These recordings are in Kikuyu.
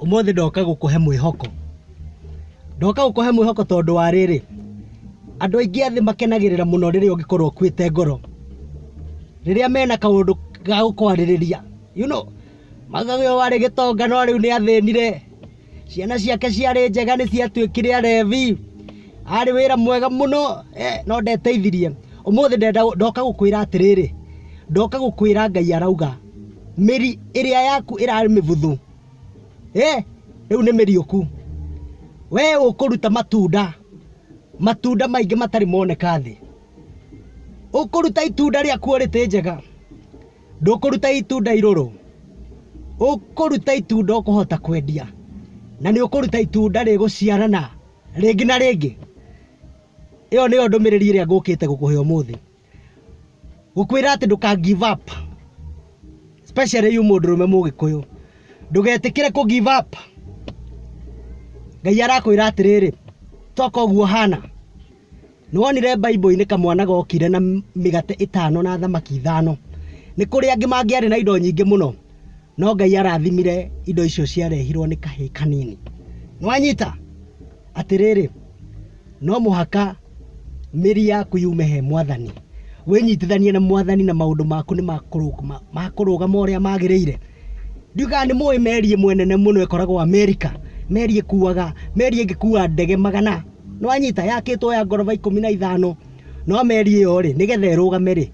Ũmũthĩ ndoka gũkũhe mwĩhoko, ndoka gũkũhe mwĩhoko tondũ wa rĩrĩ, andũ aingĩ a thĩ makenagĩrĩra mũno rĩrĩa ũngĩkorwo ũkuĩte ngoro, rĩrĩa mena kaũndũ ga gũkwarĩrĩria you know, maugaga ũyũ warĩ gĩtonga no rĩu nĩ athĩnire. Ciana ciake ciarĩ njega nĩ ciatuĩkire Alevi. Aarĩ wĩra mwega mũno eh, no ndeteithirie. Ũmũthĩ ndenda ndoka gũkwĩra atĩrĩrĩ, ndoka gũkwĩra Ngai arauga mĩri ĩrĩa yaku ĩrarĩ mĩbuthu eh, rĩu nĩ mĩriũku. We ũkũruta matunda, matunda maingĩ matarĩ moneka thĩ. Ũkũruta itunda rĩakuo rĩtĩ njega. Ndũkũruta itunda irũrũ, ũkũruta itunda ũkũhota kwendia, na nĩ ũkũruta itunda rĩgũciarana rĩngĩ na rĩngĩ. Ĩyo nĩyo ndũmĩrĩri ĩrĩa ngũkĩte gũkũhe ũmũthĩ. Gũkwĩra atĩ ndũka give up, especially you mũndũrũme mũgĩkũyũ. Ndũgetĩkĩre kũ give up. Ngai arakwĩra atĩrĩrĩ, toka ũguo ũhana. Nĩwonire Bible-inĩ kamwana gokire na mĩgate ĩtano na thamaki ithano. Nĩ kũrĩ angĩ mangĩarĩ na indo nyingĩ mũno, no Ngai arathimire indo icio ciarehirwo nĩ kahĩĩ kanini. Nĩwanyita? Atĩrĩrĩ, no mũhaka mĩri yaku yume he Mwathani, wĩnyitithanie na Mwathani na maũndũ maku nĩ makũrũgama ũrĩa magĩrĩire. Ndiũĩ kana nĩ mũĩ meri ĩmwe nene mũno ĩkoragwo Amerika, meri ĩkuaga, meri ĩngĩkua ndege magana. nĩ wanyita yakĩtwo ya ngoroba ikũmi na ithano no meri ĩyo rĩ nĩgetha ĩrũgame rĩ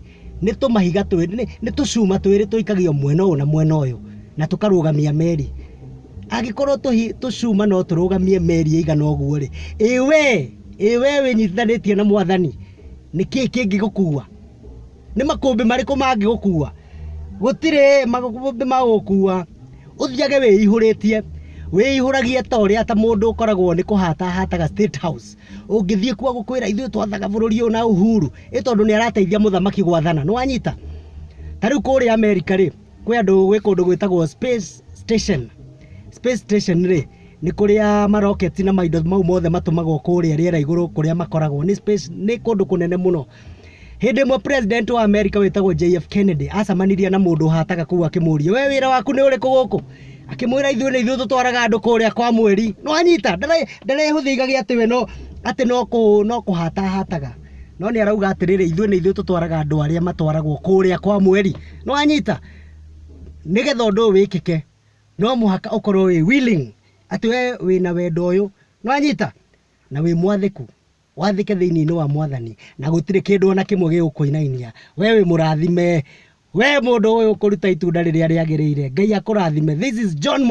nĩ tũmahiga twĩrĩ nĩ- nĩ tũcuma twĩrĩ tũikagio mwena ũyũ na mwena ũyũ na tũkarũgamia meri angĩkorwo tũhi- tũcuma no tũrũgamie meri ĩigana ũguo rĩ ĩwe ĩwe wĩnyitithanĩtie na mwathani nĩkĩĩ kĩngĩgũkua nĩ makũmbĩ marĩkũ mangĩgũkua? Gũtirĩ makũmbĩ magũgũkua, ũthiage wĩihũrĩtie, wĩihũragie ta ũrĩa ta mũndũ ũkoragwo nĩ kũhata ahataga state house, ũngĩthiĩ kuo agũkwĩra ithuĩ twathaga bũrũri ũyũ na Uhuru, ĩ tondũ nĩ arateithia mũthamaki gwathana, nĩ wanyita? Ta rĩu kũrĩa America rĩ, kwĩ andũ gwĩ kũndũ gwĩtagwo space station, space station rĩ, nĩ kũrĩa maroketi na maindo mau mothe matũmagwo kũrĩa rĩera igũrũ kũrĩa makoragwo, nĩ space nĩ kũndũ kũnene mũno. Hĩndĩ ĩmwe president wa America wĩtagwo JF Kennedy acamanirie na mũndũ hataga kũu akĩmũria we wĩra waku nĩ ũrĩkũ gũkũ akĩmwĩra ithuĩ nĩ ithuĩ tũtwaraga andũ kũrĩa kwa mweri nĩ wanyita ndarehũthĩigagia atĩ we no atĩ no kũ no kũhata hataga no nĩ arauga atĩrĩrĩ ithuĩ nĩ ithuĩ tũtwaraga andũ arĩa matwaragwo kũrĩa kwa mweri nĩ wanyita nĩgetha ũndũ ũyũ wĩkĩke no mũhaka ũkorwo wĩ willing atĩ we wĩna wendo ũyũ nĩ wanyita na wĩ mwathĩku Wathĩke thĩinĩ-inĩ wa Mwathani, na gũtirĩ kĩndũ o na kĩmwe gĩgũkũinainia. Wee wĩ mũrathime! Wee mũndũ ũyũ ũkũruta itunda rĩrĩa rĩagĩrĩire. Ngai akũrathime. This is John Mwangi.